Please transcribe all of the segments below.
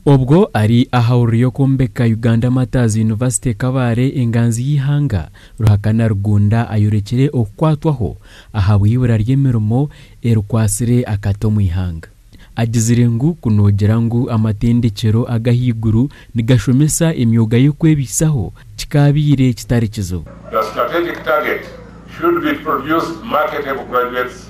Obwo ari aha hururu y'okwombeka Uganda Martyrs University Kabale enganzi y'eihanga, Ruhakana Rugunda ayorekire okukwatwaho ahabw'eibura ry'emirimo erikwatsire akati omu ihanga. Agizire ngu ku nogira ngu amatendekyero agahaiguru nigashomesa emyoga y'okwebaisaho kikaabaire kitari kizibu. The strategic target should be produced marketable graduates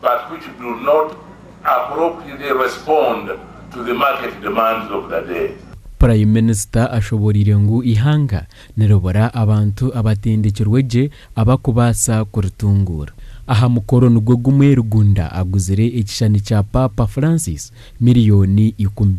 but which do not appropriately respond to the market demands of the day. Prime Minister ashoboreire ngu eihanga niribura abantu abatendekirwe gye abakubaasa kuritunguura. Aha mukoro nigwo gumwe Rugunda aguzire ekishushani kya Paapa Francis miriyoni ikumi.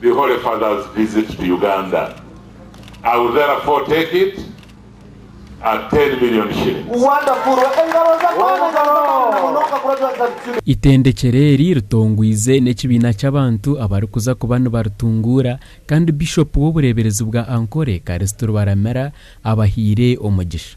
The Holy Father's visit to Uganda, I will therefore take it at ten million shillings. Itendekero eri ritongwize n'ekibiina ky'abantu abarikuza kuba nibaritunguura kandi Bishop w'obureeberezi bwa Ankole, Kalisito Rubaramira abahaire omugisha.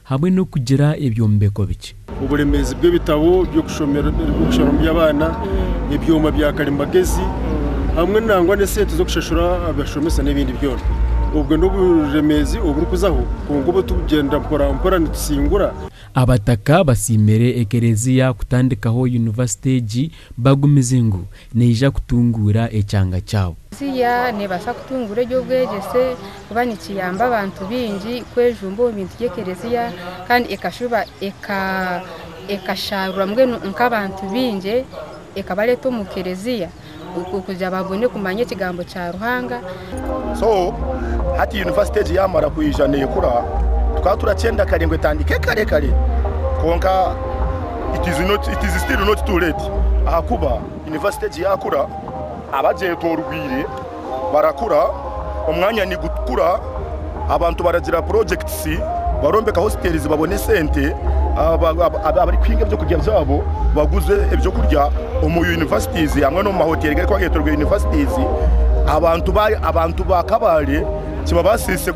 hamwe n'okugira ebyombeko bikye. Oburemeezi bw'ebitabo by'okushomeramu by'abaana, ebyoma bya karimagyezi, hamwe nangwa n'esente z'okushashura abashomesa n'ebindi byona. Obwo n'oburemeezi oburikuzaho kwonka obu turikugyenda mporampora nitusingura. Abataka basiimire Ekereziya kutandikaho yunivasite egi Bagumize ngu neija kutunguura ekyanga kyabo. Eklezia neebaasa kutunguura eby'obwegyese kuba nikiyamba abantu baingi kwejumba omu bintu by'eklezia kandi ekashuba ekashaarura mbwenu nk'abantu baingi ekabareeta omu klezia kugira ngu babone kumanya ekigambo kya Ruhanga. So hati yunivasite egi yaamara kwija neekura, tukaba turakyenda kare ngu etandike kare kare kwonka it is not, it is still not too late ahakuba yunivasite egi yaakura, abagyetoorweire barakura, omwanya nigukura. Abantu baragira projects, barombeka hostels babone esente, abarikuhinga ebyokurya byabo baguze ebyokurya omu universities hamwe n'omu mahoteri garikuba getorweire universities. Abantu ba Kabale kibabasise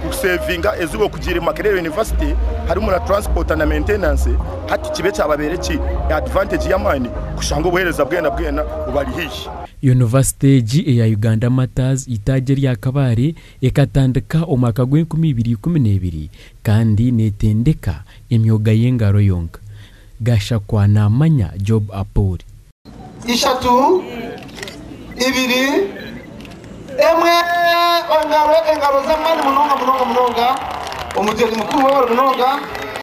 kusavinga ezooba okugiire Makerere University harimu na transport na maintenance hati kibe kyababeire ki advantage y'amaani kushanga obuhereza bwena bwena bubari haihi. University egi eya Uganda Martyrs itaagi erya Kabale Ekatandika omwaka gw'enkumi ibiri ikumi n'ebiri kandi neetendeka emyoga y'engaro yonka. Gashakwa naamanya Job Apuri. Ishatu, ibiri, emwe, engaro, engaro z'amaani munonga munonga munonga, Omugyenyi Mukuru w'Owaabire Munonga.